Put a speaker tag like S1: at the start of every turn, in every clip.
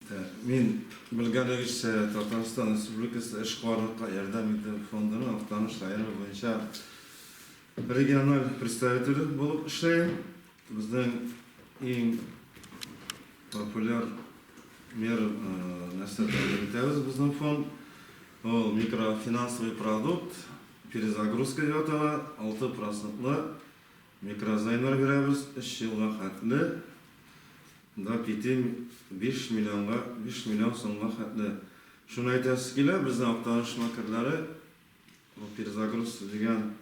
S1: Мин, белгәнегезчә, Татарстан Республикасы Эшкуарлыкка ярдәм итү фондының Актаныш районы буенча региональ представителе булып эшләем. Безнең иң популяр мер нәрсә тәкъдим итәбез безнең фонд. Ул микрофинансовый продукт, перезагрузка дип атала, 6 процентлы Микрозаймнар бирәбез өч елга хәтле, да кити биш миллионга, биш миллион сумга хәтле. Шуны әйтәсе килә, безнең Актаныш макерлары бу перезагруз дигән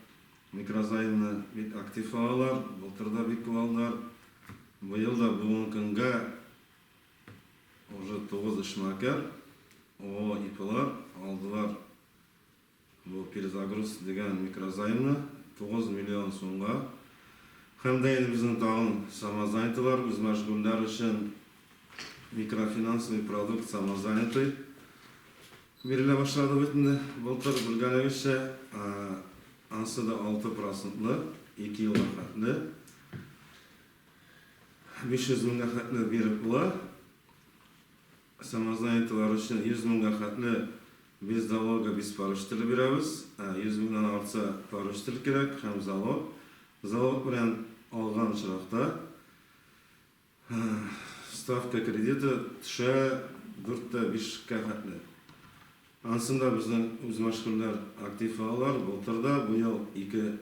S1: микрозаймны бик актив алалар, былтыр да бик күп алдылар. Быел да бүгенге көнгә уже тугыз эшмәкәр, ООО ИПлар алдылар. Бу перезагруз дигән микрозаймны тугыз миллион сумга һәм дә инде безнең тагын самозанятыйлар, үзмәшгульләр өчен микрофинансовый продукт самозанятый бирелә башлады бит инде. Былтыр, белгәнегезчә, ансы да алты процентлы, ике елга хәтле 500 меңгә хәтле биреп була. Самозанятыйлар өчен 100 меңгә хәтле без залогы без парыш теле бирәбез. 100 меңнән артса парыш тел кирәк һәм залог. Залог белән алган очракта ставка кредиты төшә 4 тә 5 кә хәтле. Ансын да безнең үзмәшгульләр актив алалар. Былтыр да, быел ике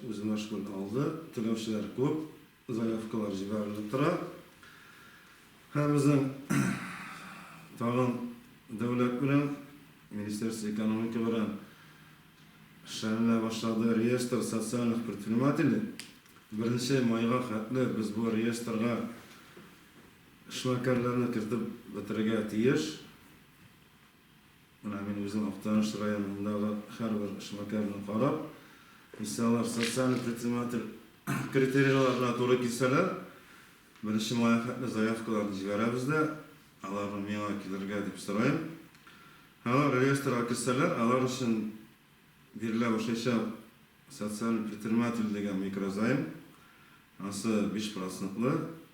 S1: үзмәшгуль алды. Түләүчеләр күп. Заявкалар җибәрелеп тора. Һәм безнең тагын дәүләт белән, Министерство экономики белән эшләнелә башлады реестр социальных предпринимателей. Беренче майга хәтле без бу реестрга эшмәкәрләрне кертеп бетерергә тиеш. Менә мин үзем Актаныш районындагы һәрбер эшмәкәрне карап, үсә алар социаль предприниматель критерийларына туры килсәләр, беренче мая хәтле заявкаларны җибәрәбез дә, аларны миңа килергә дип сорыйм. Алар реестрга керсәләр, алар өчен бирелә башлаячак социаль предприниматель дигән микрозаем, ансы биш процентлы,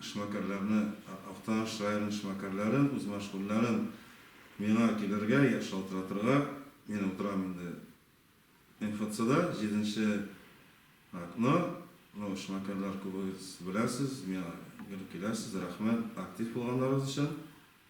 S1: Эшмәкәрләрне, Актаныш районын эшмәкәрләрен, үз мәшгульләрен миңа килергә, шалтыратырга, мин утырам инде МФЦда, җиденче окно, ну эшмәкәрләр күбегез беләсез, миңа гел киләсез, рәхмәт актив булганнарыгыз өчен.